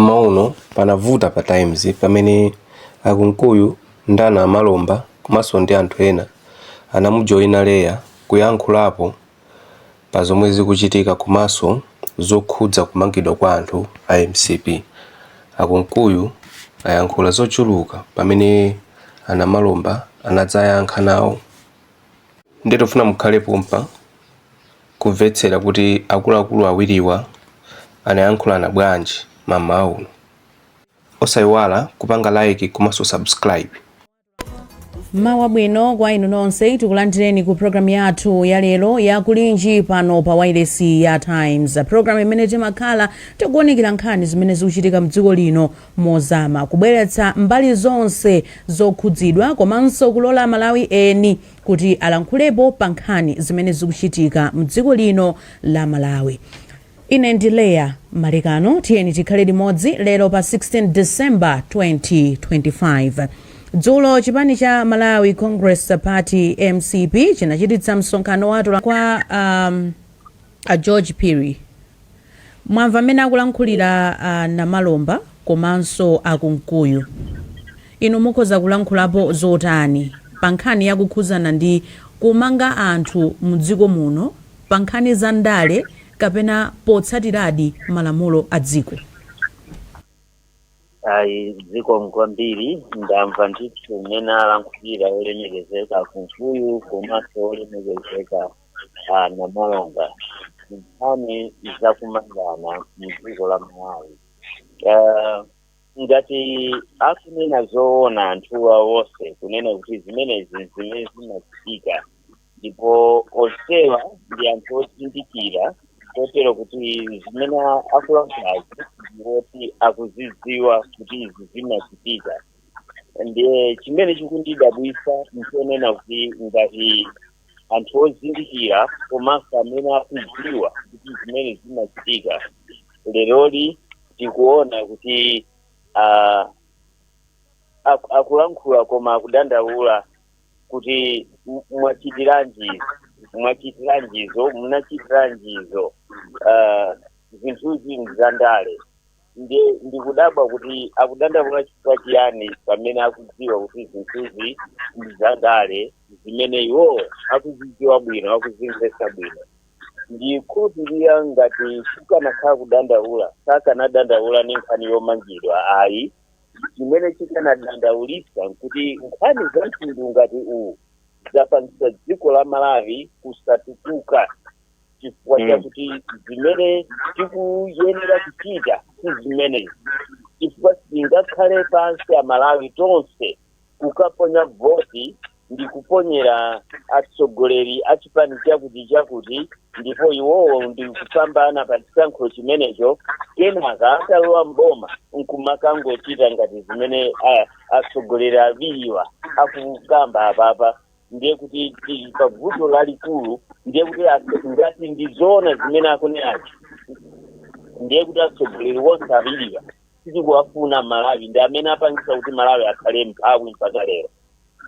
Mmawa uno panavuta pa Times pamene a Kunkuyu ndi a Namalomba komanso ndi anthu ena anamujoina Leah kuyankhulapo pa zomwe zikuchitika komanso zokhudza kumangidwa kwa anthu a mcp. A Kunkuyu ayankhula zochuluka pamene a Namalomba anadzayankha nawo. Nde tufuna mukhale pompa. kumvetsera kuti akuluakulu awiriwa anayankhulana bwanji ma mmawa uno. Osaiwala kupanga like komanso subscribe. Mmawa wabwino kwa inu nonse tikulandireni ku programu yathu ya lero ya kulinji pano pa wailesi ya Times, programu imene timakhala tikuwunikira nkhani zimene zikuchitika mdziko lino mozama, kubweretsa mbali zonse zokhudzidwa komanso kulola aMalawi eni kuti alankhulepo pa nkhani zimene zikuchitika mdziko lino la Malawi. Ine ndi Leah Malekano tiyeni tikhale limodzi lero pa 16 December 2025. Dzulo chipani cha Malawi Congress Party mcp chinachititsa msonkhano wa atolankhani kwa um, A George Phiri, mwamva mmene akulankhulira a Namalomba komanso a Kunkuyu. Inu mukhoza kulankhulapo zotani pa nkhani ya kukhudzana ndi kumanga anthu mdziko muno pa nkhani za ndale kapena potsatiradi malamulo a dziko? Ayi zikomo kwambiri ndamva ndithu mmene alankhulira olemekezeka a Kunkuyu komanso olemekezeka a namalomba nkhani zakumangana mdziko la malawi Eh, ngati akunena zoona anthuwa wonse kunena kuti zimenezi zimene zimachitika ndipo onsewa ndi anthu ozindikira kotero kuti zimene akulankhulazi ndiwoti akuzidziwa kuti izi zimachitika ndiye chimene chikundidabwitsa nchonena kuti ngati anthu ozindikira komanso amene akudziwa kuti zimene zimachitika leroli tikuona kuti ah, aku- akulankhula koma akudandaula kuti m- mwachitiranji izi, mwachitiranji izo munachitiranji izo Ah, zinthuzi nzandale ndiye ndikudabwa kuti akudandaula chifukwa chiyani pamene akudziwa kuti zinthuzi ndi zandale zimene iwowo akuzidziwa bwino akuzimvetsa bwino ndikhulupirira ngati kukanakhala kudandaula sakanadandaula ndi nkhani yomangidwa ayi chimene chikanadandaulitsa nkuti nkhani za mtundu ngati uwu zapangitsa dziko la malawi kusatukuka chifukwa Mm. chakuti zimene tikuyenera kuchita si zimenezi chifukwa tingakhale pansi amalawi tonse kukaponya voti ndi kuponyera atsogoleri a chipani chakuti chakuti ndipo iwowo ndi kupambana pa chisankho chimenecho kenaka atalowa mboma nkumakangochita ngati zimene ah, atsogoleri awiriwa akukamba apapa ndiye kuti tili pa vuto lalikulu ndiye kuti atso- ngati ndizoona zimene akunenazi ndiye kuti atsogoleri onse awiriwa sitikuwafuna malawi ndi amene apangisa kuti malawi akhale mphawi mpaka lero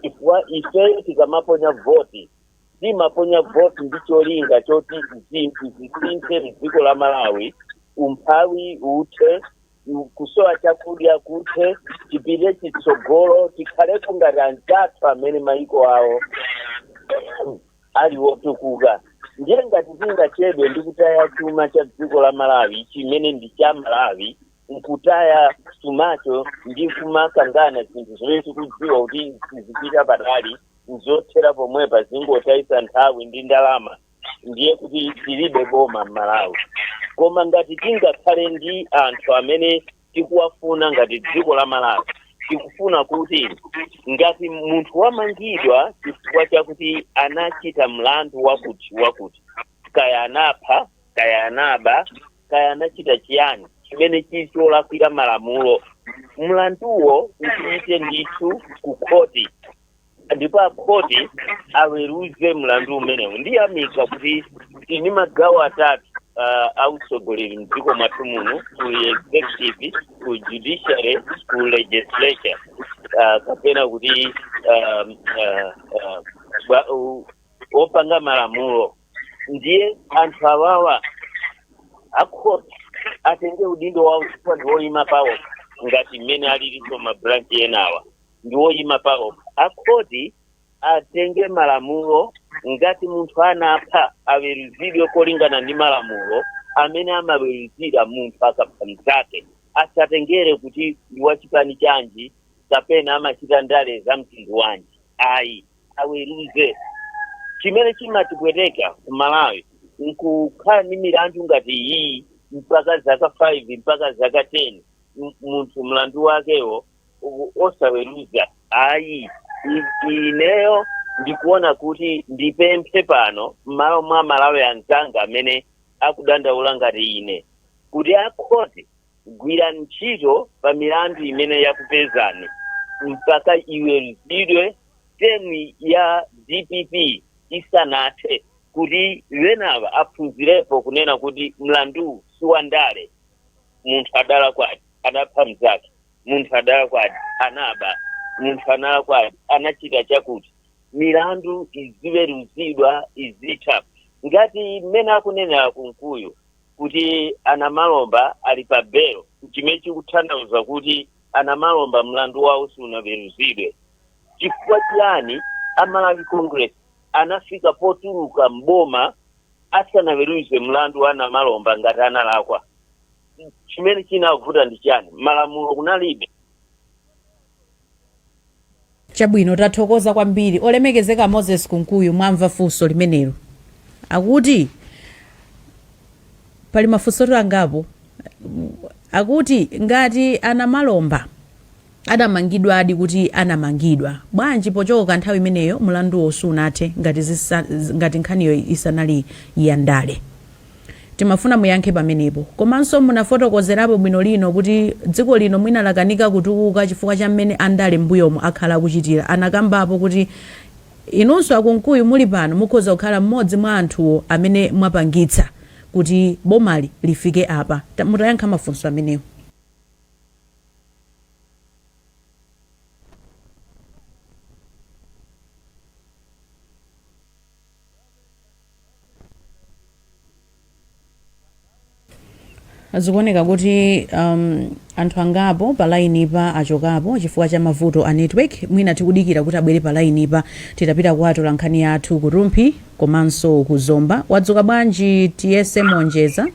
chifukwa ifeyo tikamaponya voti timaponya voti ndi cholinga choti zinthu zisinthe mdziko la malawi umphawi uthe kusowa chakudya kuthe tipite chitsogolo tikhaleko ngati anzathu amene mayiko awo ali wotukuka ndiye ngati tingachedwe ndi kutaya chuma cha dziko la malawi chimene ndi cha malawi nkutaya chumacho ndi kumakangana zinthu zimene tikudziwa kuti sizipita patali nzothera pomwepa zingotayisa nthawi ndi ndalama ndiye kuti tilibe boma m'malawi koma ngati tingakhale ndi anthu amene tikuwafuna ngati dziko la malawi tikufuna kuti ngati munthu wamangidwa chifukwa chakuti anachita mlandu wakuti wakuti kaya anapha kaya anaba kaya anachita chiyani chimene chili cholakwira malamulo mlanduwo upite ndithu ku khoti ndipo akhoti aweruze mlandu umenewu ndiyamika kuti tili ndi magawo atatu uh, autsogoleri mdziko mwathu muno ku executive ku judiciary ku legislature uh, kapena kuti um, uh, uh, bwa- u- opanga malamulo ndiye anthu awawa akhoti atenge udindo wawo chifukwa ndi woyima pawo ngati mmene alilinso mabranchi enawa ndi woyima paokha akhoti atenge malamulo ngati munthu anapha aweruzidwe kolingana ndi malamulo amene amaweruzira munthu akapha mnzake asatengere kuti ndi wachipani chanji kapena amachita ndale za mtundu wanji ayi aweruze chimene chimatipweteka ku malawi nkukhala ndi milandu ngati iyi mpaka zaka 5 mpaka zaka 10 m- munthu mlandu wakewo u- osaweruza ayi I- ineyo ndikuona kuti ndipemphe pano m'malo mwa malawi anzanga amene akudandaula ngati ine kuti akhoti gwira ntchito pa milandu imene yakupezani mpaka iweruzidwe temu ya dpp isanathe kuti enawa aphunzirepo kunena kuti mlandu si wandale munthu adalakwadi adapha mzake munthu adalakwadi anaba munthu analakwadi anachita chakuti milandu iziweruzidwa izitha ngati mmene akunenera a kunkuyu kuti a namalomba ali pa belo chimene chikutanthauza kuti a namalomba mlandu wawo sunaweruzidwe chifukwa chiyani a malawi congress anafika potuluka m'boma asanaweruze mlandu wa a namalomba ngati analakwa chimene chinavuta ndi chani malamulo kunalibe chabwino tathokoza kwambiri olemekezeka moses kunkuyu mwamva funso limenero akuti pali mafunso angapo akuti ngati a namalomba adamangidwadi kuti anamangidwa bwanji pochoka nthawi imeneyo mulanduwo sunathe ngati zisa, ngati nkhaniyo isanali ya ndale timafuna muyankhe pamenepo komanso munafotokozerapo bwinolino kuti dziko lino mwina lakanika kutukuka chifukwa cha mmene andale m'mbuyomu akhala akuchitira anakambapo kuti inunso a kunkuyu muli pano mukhoza kukhala mmodzi mwa anthuwo amene mwapangitsa kuti bomali lifike apa Ta- mutayankha mafunso amenewo zikuoneka kuti um, anthu angapo pa lainipa achokapo chifukwa cha mavuto a network mwina tikudikira kuti abwere pa lainipa titapita kwa atolankhani athu ku rumphi Komanso ku Zomba wadzuka bwanji tiyese monjeza?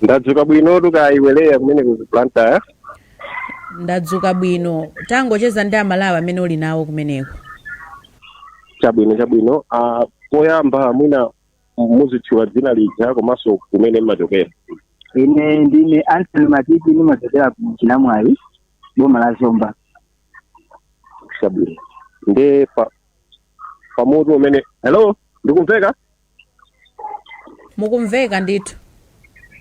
ndadzuka bwinotu kaya iwe leya kumene ku blantyre Ndadzuka bwino. Tangocheza ndi amalawi amene uli nawo kumeneko. chabwino chabwino Ah, poyamba mwina muzitchula dzina lija komanso kumene mmachokera ine ndine anthony matiti ndimachokera ku chinamwali boma la zomba chabwino nde pa pa mutu umene hello ndikumveka mukumveka ndithu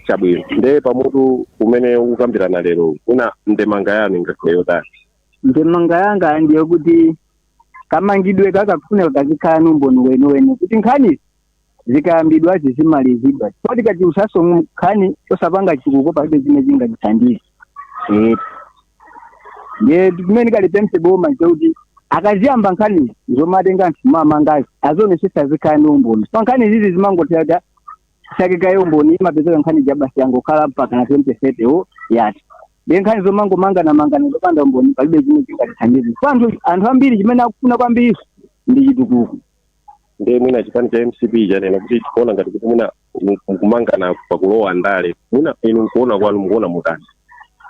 chabwino nde pa mutu umene tikukambirana lero kuno ndemanga yanu ingakhale yotani ndemanga yanga ndi yakuti kamangidwe kakufuneka kazikhala ni umboni weniweni kuti nkhani zikayambidwa zizimalizidwa chifukwa tikachulutsaso nkhani osapanga chitukuko palibe chimene chingatithandize Eh. ndiye chimene ndingalipemphe boma nchekuti akayamba nkhani zomatenga anthu mmanyazi azionesesa zikhale ndi umboni pa nkhani izizi zimangothera sakikaye umboni imapezeka nkhani ija basi yangokhala mpaka na 2030 wo yati ndiye nkhani zomangomanganamangana zopanda umboni palibe chimene chingatithandize chifukwa anthu anthu ambiri chimene akufuna kwambiri ndi chitukuko nde mwina chipani cha mcp chanena kuti tikuona ngati kuti mwina mu- mukumangana pakulowa ndale mwina inu nkuona kwanu mukuona mutani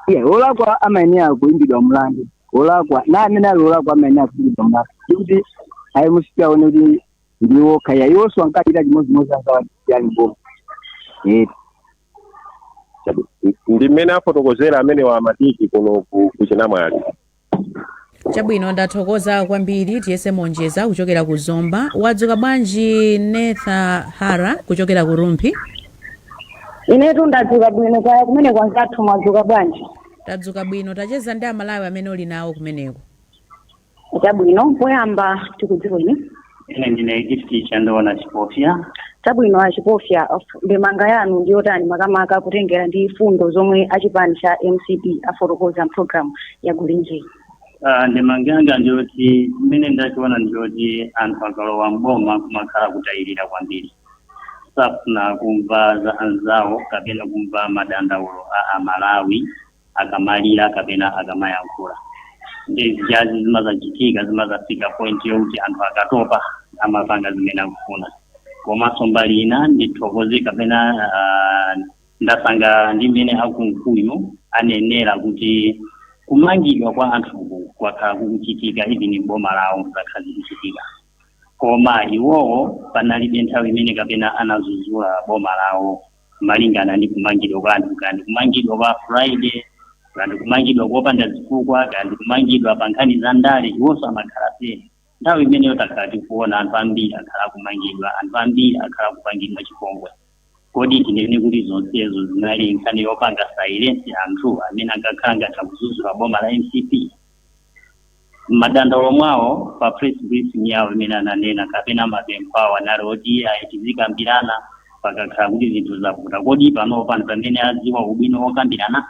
iye olakwa amayenera kuimbidwa mlandu olakwa aliyense amene ali olakwa amayenera kuimbidwa mlandu ndikuti ayi musiyeni aone kuti ndiwo kaya iwonso ankachita chimodzimodzi ankawachitira ali mboma Eh, Chabwino. ndi mmene afotokozera amenewa amatiki kuno ku- ku chinamwali chabwino ndathokoza kwambiri tiyese monjeza kuchokera ku zomba wadzuka bwanji netha hara kuchokera ku rumphi inetu ndadzuka bwino kaya kumene kwanzathu mwadzuka bwanji tadzuka bwino tacheza ndi amalawi amene uli nawo kumeneko chabwino poyamba tikudziweni ine ndine gift chandoona chipofya chabwino achipofya ndemanga yanu ndi yotani makamaka kutengera ndi fundo zomwe achipani cha mcp afotokoza mpulogalamu ya gulinji Ah, ndemanga yanga ndiyoti mmene ndachiona ndiyoti anthu akalowa mboma kumakhala kutayirira kwambiri safuna kumva za anzawo kapena kumva madandaulo a amalawi akamalira kapena akamayankhula nde zijazi zimazachitika zimazafika point yokuti anthu akatopa amapanga zimene akufuna komanso mbali ina ndithokoze kapena uh, ndasangalala ndi mmene akunkuyu anenera kuti kumangidwa kwa anthuku kwakhala kukuchitika even boma lawo zakhala zikuchitika koma iwowo panalibe nthawi imene kapena anazuzula boma lawo malingana ndi kumangidwa kwa anthu kaya ndi kumangidwa kwa friday kaya ndi kumangidwa kopanda zifukwa kaya ndi kumangidwa pa nkhani za ndale iwonso amakhala phe nthawi imeneyo takhala tikuona anthu ambiri akhala akumangidwa anthu ambiri akhala akupangidwa chipongwe kodi tinene kuti zonsezo zinali nkhani yopanga silence anthu amene ankakhala ngati akuzuzula boma la mcp mmadandaulo mwawo pa press briefing yawo imene ananena kapena mapempho awo anali oti ayi tizikambirana pakakhala kuti zinthu zavuta kodi panopa mpamene adziwa ubwino wokambirana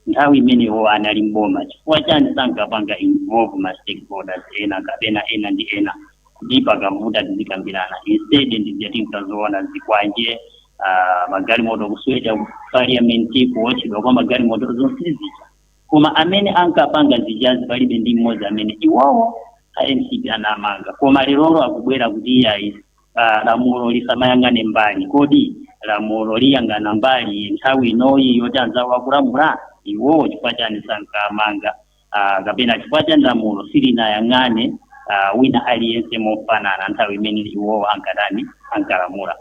nthawi imeneyo anali mboma chifukwa chani sankapanga involve ma stakeholders ena kapena ena ndi ena kuti pakavuta tizikambirana instead ndizija tinkazoona zikwanje ah, magalimoto kuswedwa ku parliament kuotchedwa kwa magalimoto zonsezija koma amene ankapanga zijazi palibe ndi mmodzi amene iwowo a mcp anamanga koma lerolo akubwera kuti iyayi ah, lamulo lisamayang'ane mbali kodi lamulo liyang'ana mbali nthawi inoyi yoti anzawo akulamula iwowo chifukwa chiyani sankamanga ah, kapena chifukwa chiyani lamulo silinayang'ane ah, wina aliyense mofanana nthawi imene iwowo ankatani ankalamula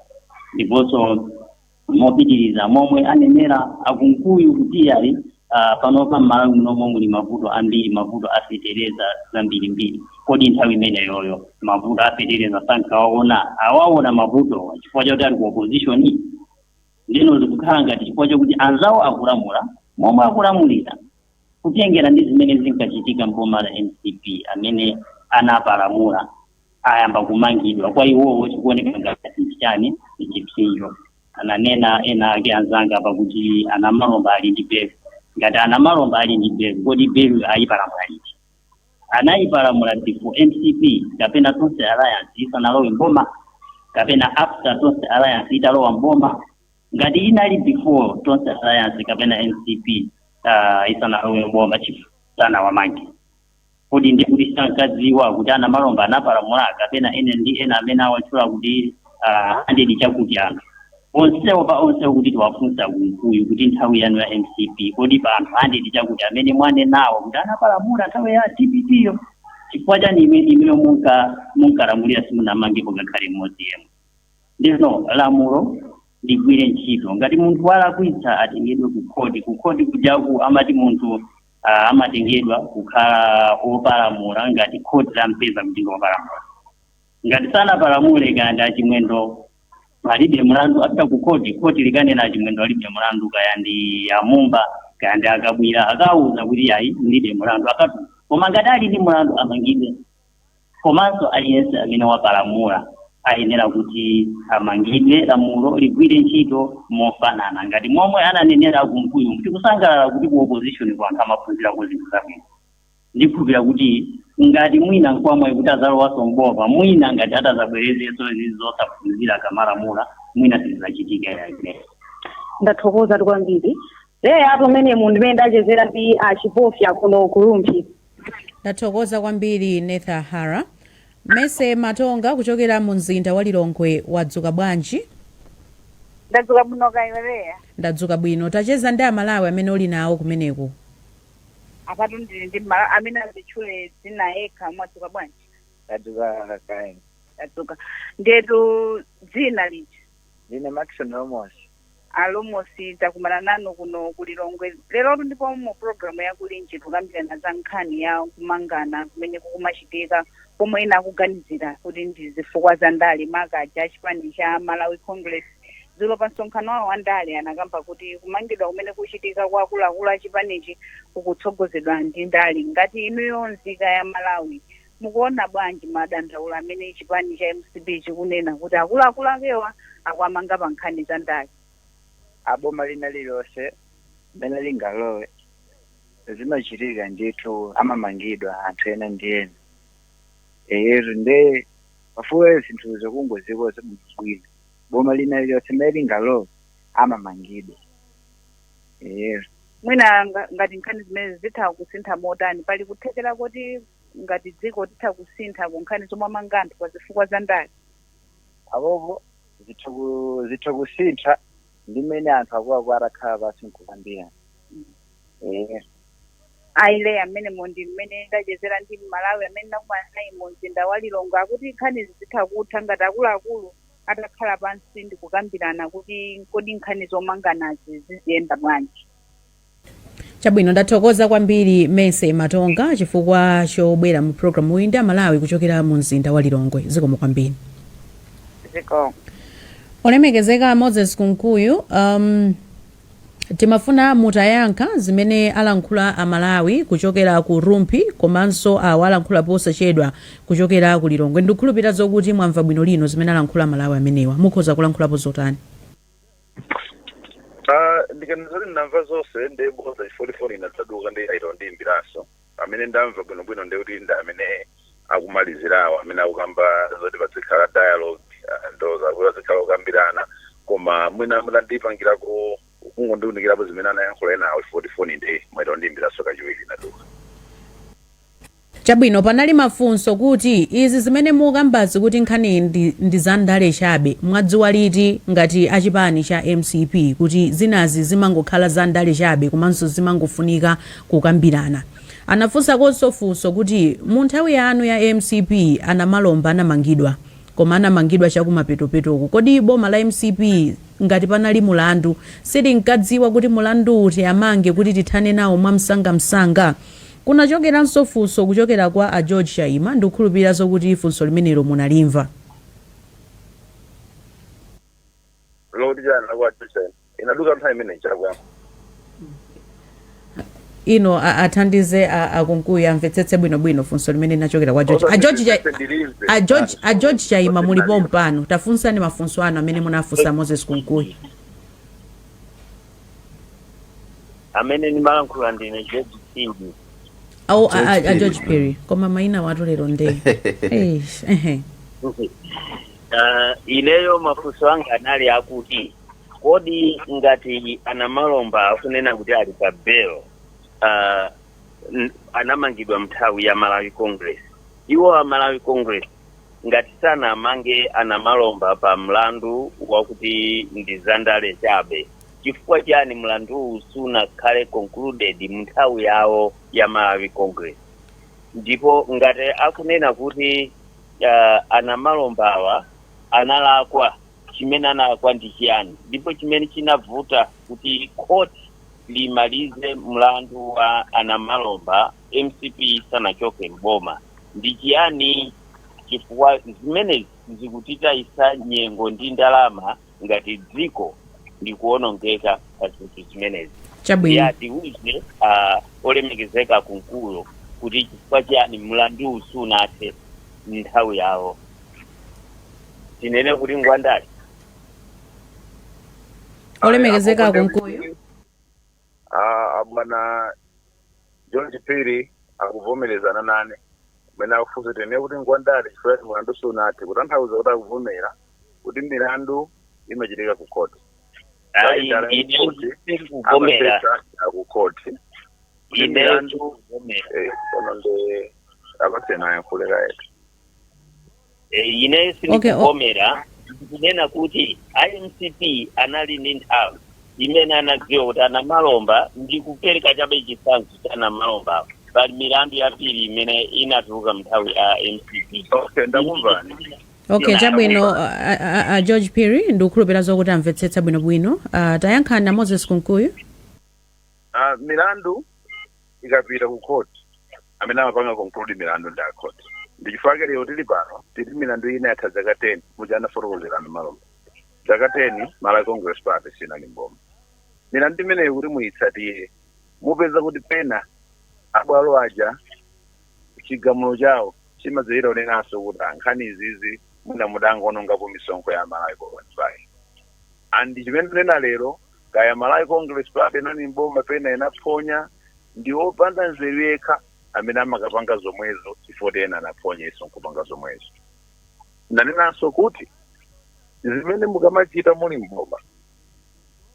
ndiponso mopitiriza momwe anenera a Kunkuyu kuti iyayi uh, panopa m'malawi munomo muli mavuto ambiri mavuto afetereza zambirimbiri kodi nthawi imeneyoyo mavuto afetereza sankawaona awaona mavutowa chifukwa chakuti ali ku opposition ndiyeno zikukhala ngati chifukwa chakuti anzawo akulamula momwe akulamulira kutengera ndi zimene zinkachitika mboma la mcp amene anapalamula ayamba kumangidwa kwa iwowo chikuoneka ngati ndi chiyani ndi chipsinjo ananena ena ake anzanga apa kuti a Namalomba ali ndi belu ngati a Namalomba ali ndi belu kodi belu anayipalamula liti anayipalamula before mcp kapena tonse alliance isanalowe mboma kapena after tonse alliance italowa mboma ngati inali before tonse alliance kapena mcp uh, isanalowe mboma chifu sanawamange kodi ndi kuti sankadziwa kuti a Namalomba anapalamula kapena ena ndi ena amene awatchula kuti ah, hundred chakuti anthu onsewo pa onsewo kuti titawafunsa a Kunkuyu kuti nthawi yanu ya mcp kodi pa anthu hundred chakuti amene mwanenawo kuti anapalamula nthawi ya dpp yo chifukwa chiyani ime- imeyo munka- munkalamulira simunamangepo ngakhale mmodzi yemwe ndiyeno lamulo ligwire ntchito ngati munthu walakwitsa atengedwe kukhoti kukhoti kujako amati munthu ah, amatengedwa kukhala opalamula ngati khoti lampeza kuti ndi opalamula ngati sanapalamule kaya ndi a Chimwendo alibe mlandu apita ku khoti khoti likanena a Chimwendo alibe mlandu kaya ndi a Mumba kaya ndi a Kabwila akawauza kuti iyayi mulibe mlandu akatu koma ngati ali ndi mlandu amangidwe komanso aliyense amene wapalamula ayenera kuti amangidwe lamulo ligwire ntchito mofanana ngati momwe ananenera a Kunkuyu kuti akusangalala kuti ku opposition kwa anthu amaphunzirako zinthu zabwino ndikhulupira kuti ngati mwina nkwamwayi kuti azalowanso mboma mwina ngati atazabwerezenso izi zosaphunzira kamalamula mwina sizizachitika iyayi ndathokoza kwambiri Leah apo ndimomwemo mmene ndachezera ndi a Chipofya kuno ku Rumphi Ndathokoza kwambiri Netha Hara. Mercy Matonga kuchokera mu mzinda wa Lilongwe wadzuka bwanji? ndadzuka bwino kaya iwe Leah Ndadzuka bwino. Tacheza ndi Amalawi amene uli nawo kumeneko. apatu ndili ndi mala amene azitchule dzina yekha mwadzuka bwanji tadzuka kaya inu tadzuka ndiyetu dzina lija Ndine Maxon Lomosi. a lomosi takumana nanu kuno ku lilongwe lerotu ndipo mu programu ya kulinji tukambirana za nkhani ya kumangana kumene kukumachitika pomwe ena akuganizira kuti ndi zifukwa za ndale maka achipani cha malawi congress dzulo pa msonkhano wawo wa ndale anakamba kuti kumangidwa kumene kuchitika kwa akuluakulu a chipanichi kukutsogozedwa ndi ndale ngati inuyo nzika ya malawi Mukuona bwanji madandaulo amene chipani cha mcp chikunena kuti akuluakulu akewa akuwamanga pa nkhani za ndale? a boma lina lililonse mmene lingalowe zimachitika ndithu amamangidwa anthu ena ndi ena eyetu nde pafunika zinthuzo kungozikonza bwinobwino boma lina lililonse mmene lingalowe amamangidwa eyetu Mwina ngati nkhani zimenezi zitha kusintha motani, pali kuthekera koti ngati dziko titha kusintha ku nkhani zomamanga anthu pa zifukwa za ndale? apopo zitha kusintha ndi mmene anthu akuluakulu atakhala pansi nkukambirana Aile amenewo ndi mmene ndachezera ndi mmalawi amene nakumana naye mu mzinda wa lilongwe akuti nkhanizi zitha kutha ngati akuluakulu atakhala pansi ndi kukambirana kuti kodi nkhani zomanganazi ziziyenda bwanji chabwino ndathokoza kwambiri mese matonga chifukwa chobwera mu programuyi ndi amalawi kuchokera mu mzinda wa lilongwe zikomo kwambiri zikomo olemekezeka moses kunkuyu um, timafuna mutayankha zimene alankhula amalawi kuchokera ku rumphi komanso awo alankhula posachedwa kuchokera ku lilongwe ndikukhulupirira zokuti mwamva bwino lino zimene alankhula amalawi amenewa mukhoza kulankhulapo zotani Ah, ndikanena zoti ndamva zonse ndi bodza chifukwa choti foni inadzaduka nde ayita kundiyimbiranso amene ndamva bwinobwino ndi kuti ndi amene akumalizirawo amene akukamba zoti padzikhala dialogue ah, ndo zakuti padzikhala kukambirana koma mwina mutandipangirako kungondiunikirapo zimene anayankhula enawo chifukwa choti foni nde mwaita kundiyimbiranso kachiwiri inaduka Chabwino panali mafunso kuti izi zimene mukambazi kuti nkhani ndi za ndale chabe mwadziwa liti ngati a chipani cha mcp kuti zinazi zimangokhala za ndale chabe komanso zimangofunika kukambirana. Anafunsakonso funso kuti mu nthawi yanu ya mcp a Namalomba anamangidwa koma anamangidwa chakumapetopetoku kodi boma la mcp ngati panali mulandu silinkadziwa kuti mulandu kuti amange kuti tithane nawo mwamsangamsanga? Kunachokeranso funso kuchokera kwa a George Chaima, ndikukhulupirira zokuti funso limenelo munalimva. Mukuti chani kwa a George Chaima? Inaduka nthawi imene ija akuyankha. Inu a athandize a a Kunkuyu amvetsetse bwino bwino funso limene linachokera kwa George. A George Chai- Ndilimve. a George a George Chaima muli pompano. Tafunsani mafunso anu amene munafunsa Moses Kunkuyu. amene ndimalankhula ndine george phiri awo a- a- a George george Phiri. Phiri koma maina awatu lero nde Eish, ehe. Ah, ineyo mafunso anga anali akuti kodi ngati a Namalomba akunena kuti ali pa belo ah, n- anamangidwa mnthawi ya malawi congress iwo a malawi congress ngati sanawamange a Namalomba pa mlandu wakuti ndi zandale chabe Chifukwa chani mlanduwu sunakhale concluded munthawi yawo ya Malawi Congress? Ndipo ngati akunena kuti uh, a Namalombawa analakwa chimene analakwa ndi chiyani ndipo chimene chinavuta kuti court limalize mlandu wa a Namalomba mcp isanachoke mboma ndi chiyani chifukwa zimenezi zikutitayisa nyengo ndi ndalama ngati dziko zikuwonongeka pa zinthu zimenezi chabwino ya tiuze ah, olemekezeka Kunkuyu kuti chifukwa chiyani mlandu sunathe mnthawi yawo tinene kuti ngwandale olemekezeka Akonde Kunkuyu kuti- Ah, ah, bwana George Phiri akuvomerezana nane mene akufunsa tinene kuti ngwandale chifukwa kuti mulandu sunathe kutanthauza kuti akuvomera kuti milandu imachitika ku khoti ayi Ndale ine kuti ndikuvomera amapesa ku khoti kuti ine milandu ndikuvomera eh, kono ndi apatse naye nkhuleka yetu Eh, ine Okay, o- sindikuvomera ndikunena kuti a mcp anali ndi nthawi imene anadziwa kuti a Namalomba ndikupereka chabe chitsanzo cha a Namalomba pali milandu yambiri imene inatuluka mnthawi ya mcp okay ndakumvani okay Ina- chabwino a, a, a- a george phiri ndikukhulupira zokuti amvetsetsa bwinobwino uh, tayankhani a moses kunkuyu Ah, milandu ikapita ku court amene amapanga conclude milandu ndi akhoti ndi chifukwa chake lero tilipano tili milandu ina yatha zaka 10 muja anafotokozera a Namalomba zaka 10 malawi congress party sinali mboma milandu imeneyo kuti muyitsatire mupeza kuti pena abwalo aja chigamulo chawo chimadzayira onenanso kuti a nkhani izizi mwina mudangoonongapo misonkho ya malawi congress party and chimene tunena lero Kaya Malawi Congress Party inali m'boma pena inaphonya, ndi opanda nzeru yekha amene amakapanga zomwezo chifukwa ena anaphonyanso nkupanga zomwezo. Ndanenanso kuti zimene mukamachita muli m'boma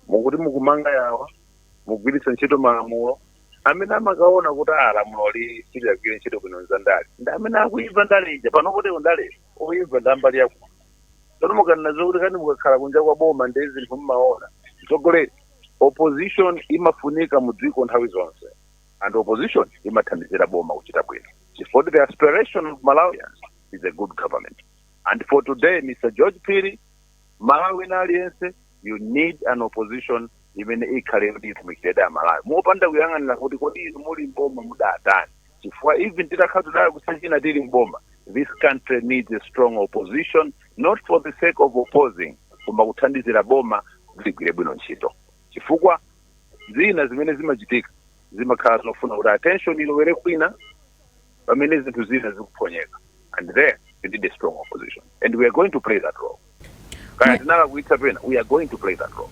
mukuti mukumanga yawa mugwiritsa ntchito malamulo amene mmakaona kuti a lamuloli siliyagwire ntchito bwino nza ndale ndi amene akuimva ndale ija pano kuti ndale oimva ndi ambali yakuti Tsono mukanaziwa kuti kani mukakhala kunja kwa boma nde zinthu mmaona. Mtsogoleri, opposition imafunika mu dziko nthawi zonse. And opposition imathandizira boma kuchita bwino. Chifukwa the aspiration of Malawians is a good government. And for today, Mr. George Phiri, Malawi ndi aliyense you need an opposition imene ikhale kuti itumikiredi amalawi mopanda kuyang'anira kuti kodi inu muli mboma mudatani chifukwa even titakhala today kusachina tili mboma this country needs a strong opposition not for the sake of opposing koma kuthandizira boma kuti ligwire bwino ntchito chifukwa zina zimene zimachitika zimakhala zofuna kuti attention ilowere kwina pamene zinthu zina zikuphonyeka and there you need a strong opposition and we are going to play that role kaya tinalakwitsa pena we are going to play that role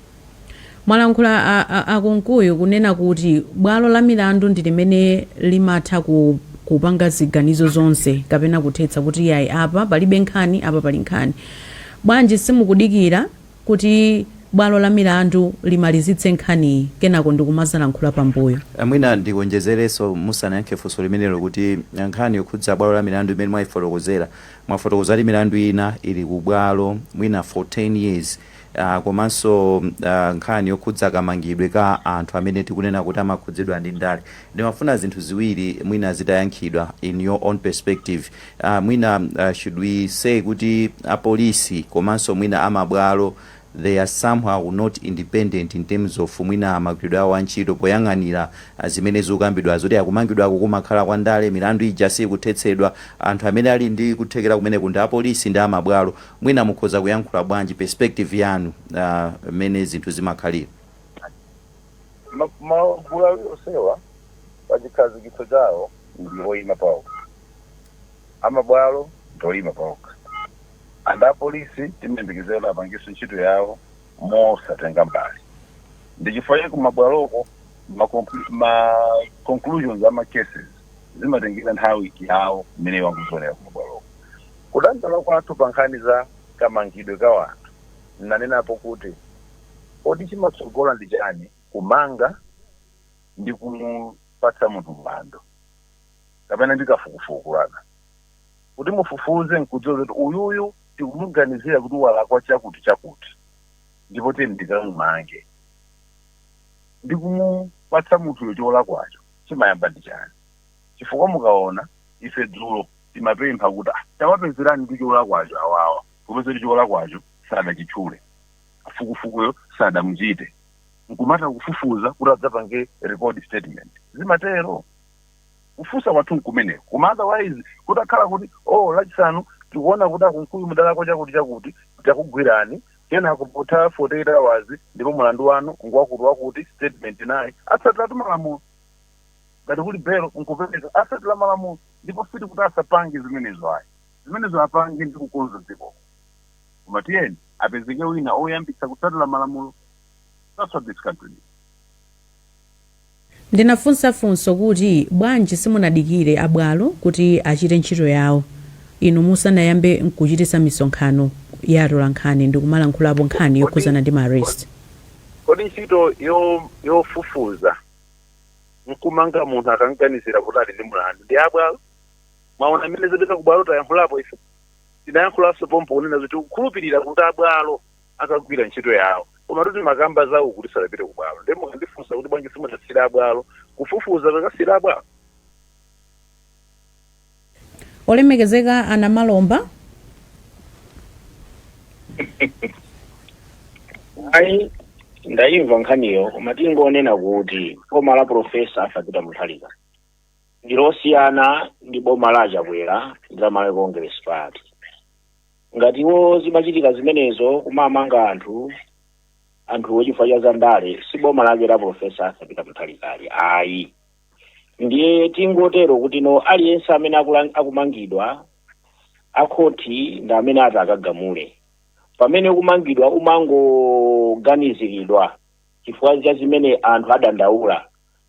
mwalankhula a- a- akunkuyu kunena kuti bwalo la milandu ndi limene limatha ku kupanga ziganizo zonse kapena kuthetsa kuti yayi apa palibe nkhani apa pali nkhani bwanji simukudikira kuti bwalo la milandu limalizitse nkhaniyi kenako ndikumazalankhula pambuyo. Mwina ndikuonjezerenso musanayankhe funso limenelo kuti nkhani yokhudza bwalo la milandu imene mwaifotokozera, mwafotokoza kuti milandu ina ili ku bwalo mwina for 10 years komanso nkhani yokhudza kamangidwe ka anthu amene tikunena kuti amakhudzidwa ndi ndale. Ndimafuna zinthu ziwiri mwina zitayankhidwa in your own perspective. aah mwina should we say kuti apolisi komanso mwina amabwalo they are somehow not independent in terms of mwina magwiridwe awo a ntchito poyang'anira zimene zikukambidwa zoti kumangidwaku kumakhala kwa ndale milandu ija siikuthetsedwa anthu amene ali ndi kuthekera kumeneku ndi apolisi ndi amabwalo mwina mukhoza kuyankhula bwanji perspective yanu aah mmene zinthu zimakhalira. Magulu awiri onsewa pachikhazikitso chawo ndi oyima paokha. a mabwalo ndi oima paokha and a polisi timayembekezera kuti apangenso ntchito yawo mosatenga mbali ndi chifukwa chake kumabwaloko ma, conclu- ma conclusions a ma cases zimatengera nthawi yawo imene iwo akuzionera kumabwaloko kudandaula kwathu pa nkhani za kamangidwe ka wanthu nnanenapo kuti kodi chimatsogola ndi chani kumanga ndi kumupatsa munthu mlandu kapena ndi kafukufuku kuti mufufuze nkudziwa zoti uyuyu tikumuganizira kuti walakwa chakuti chakuti ndipo tiyeni tikamumange ndi kumupatsa munthuyo cholakwacho chimayamba ndi chani chifukwa mukaona ife dzulo timapempha kuti "Ah, tawapezerani ndi cholakwacho awawa kupeza kuti cholakwacho sadachitchule kafukufukuyo sadamuchite nkumata kufufuza kuti adzapange record statement zimatero Kufunsa kwathu nkumeneko koma otherwise kutakhala kuti oh lachisanu tikuona kuti a Kunkuyu mudalakwa chakuti chakuti takugwirani kenako kutha 48 hours ndipo mulandu wanu ngwakuti wakuti statement nayi atsatiratu malamulo ngati kuli bail nkupereka atsatira malamulo ndipo sitikuti asapange zimenezo ayi zimenezo apange ndi kukonza dziko koma tiyeni apezeke wina oyambitsa kutsatira malamulo that's what this country needs. Ndinafunsa funso kuti, Bwanji simunadikire a bwalo kuti achite ntchito yawo inu musanayambe nkuchititsa misonkhano ya atolankhani ndikumalankhulapo nkhani yokhuzana ndi ma arrest? kodi ntchito yofufuza nkumanga munthu akamganizira kuti ali ndi mlandu ndi ya bwalo? Mwaona mmene zopita ku bwalo tayankhulapo ife? Tinayankhulanso pompo kunena zoti tikukhulupirira kuti a bwalo akagwire ntchito yawo koma tu timakamba za uku tisadapite ku bwalo ndiye mukandifunsa kuti bwanji simudasiyire abwalo kufufuza kakasiyira abwalo olemekezeka a namalomba ayi ndayimva nkhaniyo koma tingonena kuti boma la profesa arthur peter muthalika ndilosiyana ndi boma la achakwera la malawi congress party ngati iwo zimachitika zimenezo kumamanga anthu anthuwo chifukwa cha zandale si boma lake la profesa arthur peter muthalika ili ayi ndiye tingotero kuti no aliyense amene akumangidwa akhoti ndi amene atakagamule pamene ukumangidwa umangoganiziridwa chifukwa cha zimene anthu adandaula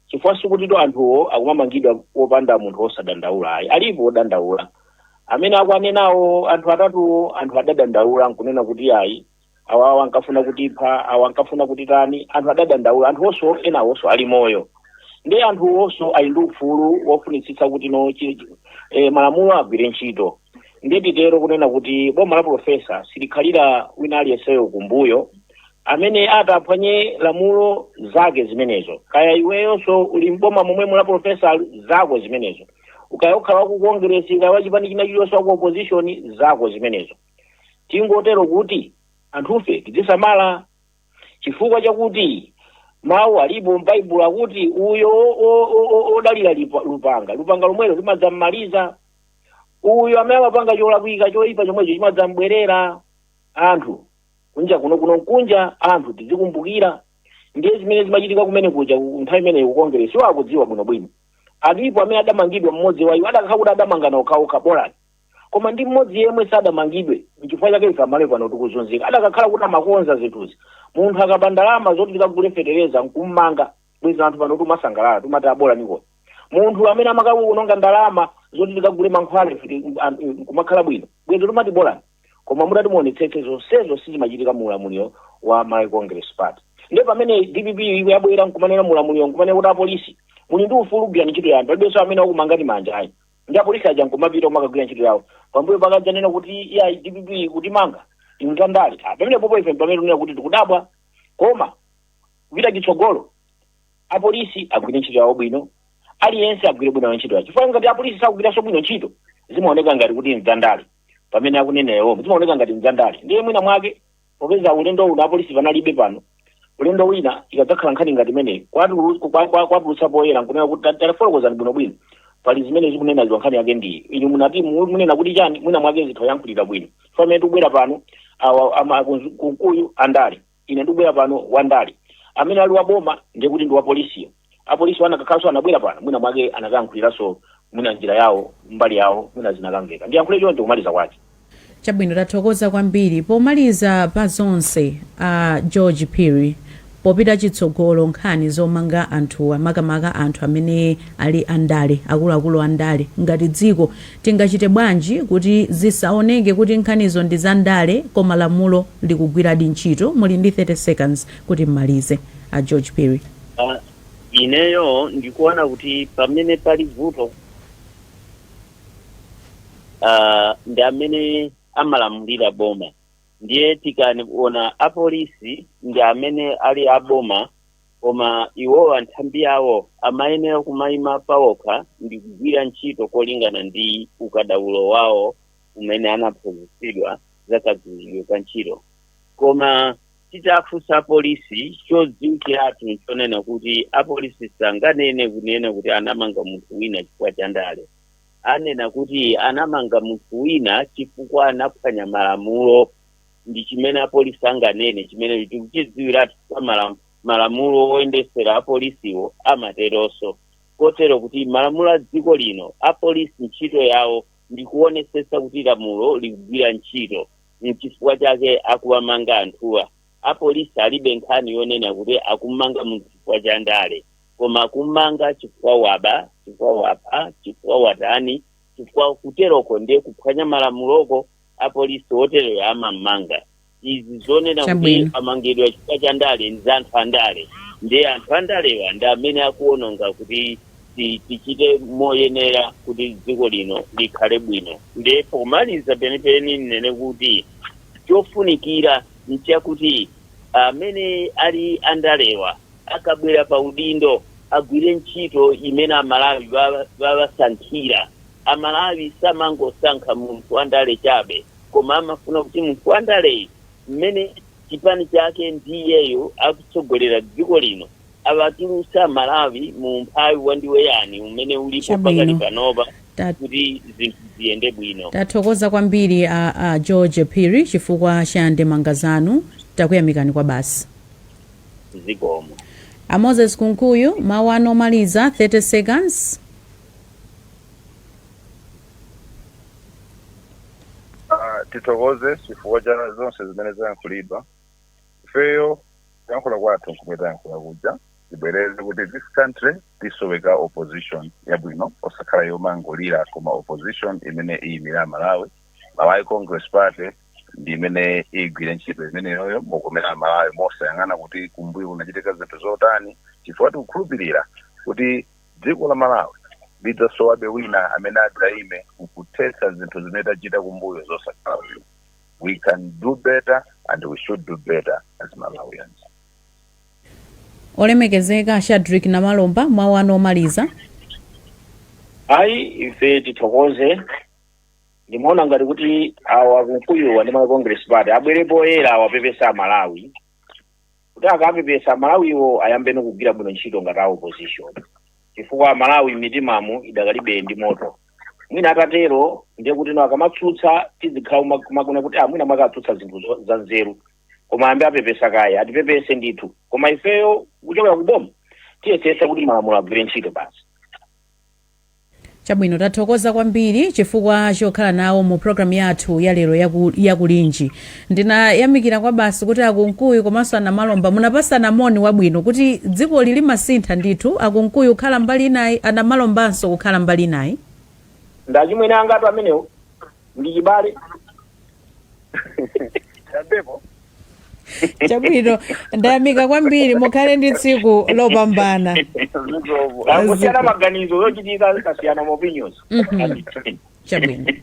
chifukwa sikutitu anthuwo akumamangidwa popanda munthu wosadandaula ayi alipo wodandaula amene akuanenawo anthu atatuwo anthu adadandaula nkunena kuti ayi awawa ankafuna kutipha awa ankafuna kutitani anthu adadandaula anthuwonso enawonso ali moyo ndiye anthuwonso ali ndi ufulu wofunitsitsa kuti no malamulo agwire ntchito ndiye titero kunena kuti boma la profesa silikhalira wina aliyenseyo kumbuyo amene ataphwanye lamulo zake zimenezo kaya iweyonso uli mboma momwe mulamu profesa zako zimenezo ukaya ukhala waku kongresi kaya wachipani china chiliyonse waku opposition zako zimenezo tingotero kuti anthufe tidzisamala chifukwa chakuti mawu alipo m'baibulo akuti uyo o- o- o- o- odalira lipa- lupanga lupanga lomwelo limadzam'maliza uyo amene amapanga cholakwika choyipa chomwecho chimadzambwerera anthu kunja kuno kuno nkunja anthu tizikumbukira ndiye zimene zimachitika kumene kuja ku- nthawi imeneyo ku kongeresiwo akudziwa bwinobwino alipo amene adamangidwa mmodzi wa iwo adakhala kuti adamangana okhaokha bolani koma ndi mmodzi yemwe sadamangidwe nchifukwa chake ife amalawi pano tikuzunzika adakakhala kuti amakonza zinthuzi munthu akaba ndalama zoti tikagule fetereza nkummanga bwezi anthu pano tikumasangalala tikumati a bolaniko munthu amene amakaononga ndalama zoti tikagule mankhwala ife ti- an- nkumakhala bwino bwezi tikumati bolani Koma mutati muonetsetse zonsezo sizimachitika mu ulamuliro wa Malawi Congress Party. Nde pamene dpp iyo yabwera nkumanena mu ulamuliro nkumanena kuti apolisi muli ndi ufulu gwirani ntchito yanu palibenso amene wakumangani manja ayi. Ndi apolisi aja nkumapita kumakagwira ntchito yawo. Pambuyo pake adzanena kuti iyayi dpp ikutimanga ndi ndale. Ah, Pamene popo ife pamene tunena kuti tikudabwa koma kupita chitsogolo apolisi agwire ntchito yawo bwino aliyense agwire bwino ntchito yawo chifukwa ngati apolisi sakugwiranso bwino ntchito zimaoneka ngati kuti nza ndale pamene akunena ya boma zimaoneka ngati nza ndale ndiye mwina mwake popeza ulendo uno apolisi panalibe pano ulendo wina ikadzakhala nkhani ngati imeneyi kwatulu- kwa- kwa- kwatulutsa poyera nkunena kuti ta- tafotokozani bwinobwino pali zimene zikunenedwa nkhani yake ndiyi inu munati mu- munena kuti chani mwina mwake atha ayankhulira bwino pamene tikubwera pano awa ama- kunzu- kunkuyu andale Ine ndikubwera pano, wandale amene ali wa boma, ndiye kuti ndi wa polisiyo, apolisiwo anakakhalanso, anabwera pano, mwinamwake anakayankhuliranso mwina m'njira yawo, mbali yawo, mwina zinakamveka. Ndiyankhule choncho kumaliza kwake. Chabwino, tathokoza kwambiri. Pomaliza pa zonse, a George Phiri, popita chitsogolo nkhani zomanga anthuwa, makamaka anthu amene ali andale, akuluakulu andale, ngati dziko Tingachite bwanji kuti zisaoneke kuti nkhanizo ndi zandale koma lamulo likugwiradi ntchito? Muli ndi 30 seconds kuti m'malize, a George Phiri. A, ineyo ndikuona kuti pamene pali vuto a, ndi amene amalamulira boma ndiye tikaona apolisi ndi amene ali aboma koma iwowa nthambi yawo amayenera kumayima pawokha ndi kugwira ntchito molingana ndi ukadaulo wawo umene anaphunzitsidwa za kagwiridwe ka ntchito koma titafunsa apolisi chodziwikiratu nchonena kuti apolisi sanganene kunena kuti anamanga munthu wina chifukwa cha ndale anena kuti anamanga munthu wina chifukwa anaphwanya malamulo ndi chimene apolisi anganene chimene tikuchidziwiratu pa malam- malamulo oyendesera apolisiwo amateronso kotero kuti malamulo a dziko lino apolisi ntchito yawo ndi kuonesesa kuti lamulo likugwira ntchito mchifukwa chake akuwamanga anthuwa apolisi alibe nkhani yonena kuti akumanga munthu chifukwa cha ndale koma akumanga chifukwa waba chifukwa wapha chifukwa watani chifukwa kuteroko ndiye kuphwanya malamuloko apolisi otereyo amammanga izi zonena kuti Chabwino. amangidwa chifukwa cha ndale ndi za anthu andale ndiye anthu andalewa ndi amene akuononga kuti ti- tichite moyenera kuti dziko lino likhale bwino ndiye pomaliza penipeni nnene kuti chofunikira nchakuti amene ali andalewa akabwera pa udindo agwire ntchito imene amalawi awasankhira A Malawi samangosankha munthu wa ndale chabe koma amafuna kuti munthu wa ndaleyu mmene chipani chake ndi iyeyo akutsogolera dziko lino awatulutse a Malawi mu umphawi wandiweyani umene ulipo pakali Chabwino. panopa Ta- kuti zinthu ziyende bwino. Tathokoza kwambiri a, a George Phiri chifukwa cha ndemanga zanu. Takuyamikani kwabasi. Zikomo. A Moses Kunkuyu, mawu anu omaliza 30 seconds. Ah, tithokoze chifukwa cha zonse zimene zayankhulidwa ifeyo kuyankhula kwathu nkumwe tayankhula kuja tibwereze kuti this country tisoweka opposition yabwino osakhala yomangolira koma opposition imene iyimire amalawi malawi congress party ndi imene igwire ntchito imeneyoyo mokomera amalawi mosayang'ana kuti kumbuyo kunachitika zinthu zotani chifukwa tikukhulupirira kuti Dziko la Malawi lidzasowabe wina amene adzaime nkuthetsa zinthu zimene tachita kumbuyo zosakhala bwino. We can do better and we should do better as Malawians. Olemekezeka a Shadrick Namalomba, mawu anu omaliza. Ayi ife tithokoze ndimaona ngati kuti awa a Kunkuyuwa ndi Malawi Congress Party abwere poyera awapepese a Malawi kuti akapepesa amalawiwo ayambeno kugwira bwino ntchito ngati a opposition chifukwa amalawi m'mitimamo idakalibe ndi moto mwina atatero ndiye kuti no akamatsutsa tidzikhala kuma- kumakuna kuti ah, mwina akutsutsa zinthu zo- za nzeru koma ayambe apepesa kaye atipepese ndithu koma ifeyo kuchokera ku boma tiyesesa kuti malamulo agwire ntchito basi Chabwino, tathokoza kwambiri chifukwa chokhala nawo mu program yathu ya lero ya Kulinji. Ndinayamikira kwabasi kuti a Kunkuyu komanso a Namalomba munapasana moni wabwino kuti dzikoli likusintha ndithu, a Kunkuyu kukhala mbali inayi, a Namalombanso kukhala mbali inayi. Ndi achimwene angatu amenewo, ndi chibale. chabwino ndayamika kwambiri mukhale ndi tsiku lopambana kusiyana maganizo zochitika zikasiyana maopinions Mhm. chabwino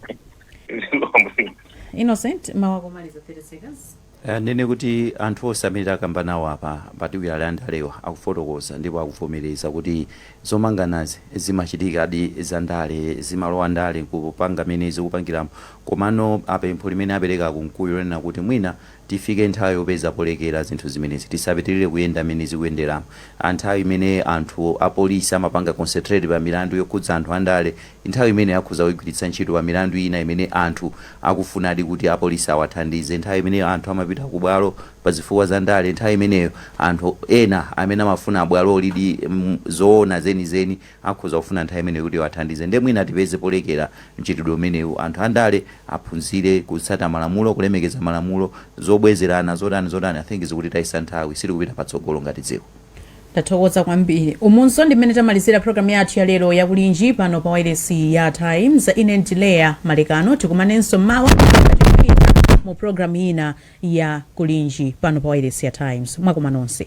Innocent mawu omaliza 30 seconds Eh, ndinene kuti anthu onse amene takamba nawo apa makatswiri andalewa akufotokoza ndipo akuvomereza kuti zomanganazi zimachitikadi za ndale zimalowa ndale kupanga mene zikupangiramo Komano apa pempho limene apereka a Kunkuyu lonena kuti mwina tifike nthawi yopeza polekera zinthu zimenezi, tisapitirire kuyenda mmene zikuyenderamu, nthawi imene anthu a polisi amapanga concentrate pa milandu yokhudza anthu a ndale, nthawi imeneyo akhoza kuigwiritsa ntchito pa milandu ina imene anthu akufunadi kuti a polisi awathandize, nthawi imene anthu amapita ku bwalo pa zifukwa za ndale, nthawi imeneyo anthu ena amene amafuna abwalo lidi zoona zenizeni. Akhoza kufuna nthawi imeneyo kuti awathandize nde mwina tipeze polekera mchitidwe umenewu. Anthu andale aphunzire kutsata malamulo, kulemekeza malamulo, zobwezerana, zotani zotani I think zikutitayitsa nthawi, sitikupita patsogolo ngati dziko. Tathokoza kwambiri. Umunso ndi mmene tamalizira program yathu ya lero ya Kulinji pano pa wailesi ya Times. Ine ndi Leah Malekano tikumanenso mmawa mu program ina ya Kulinji pano pa wailesi ya Times. Mwakoma nonse.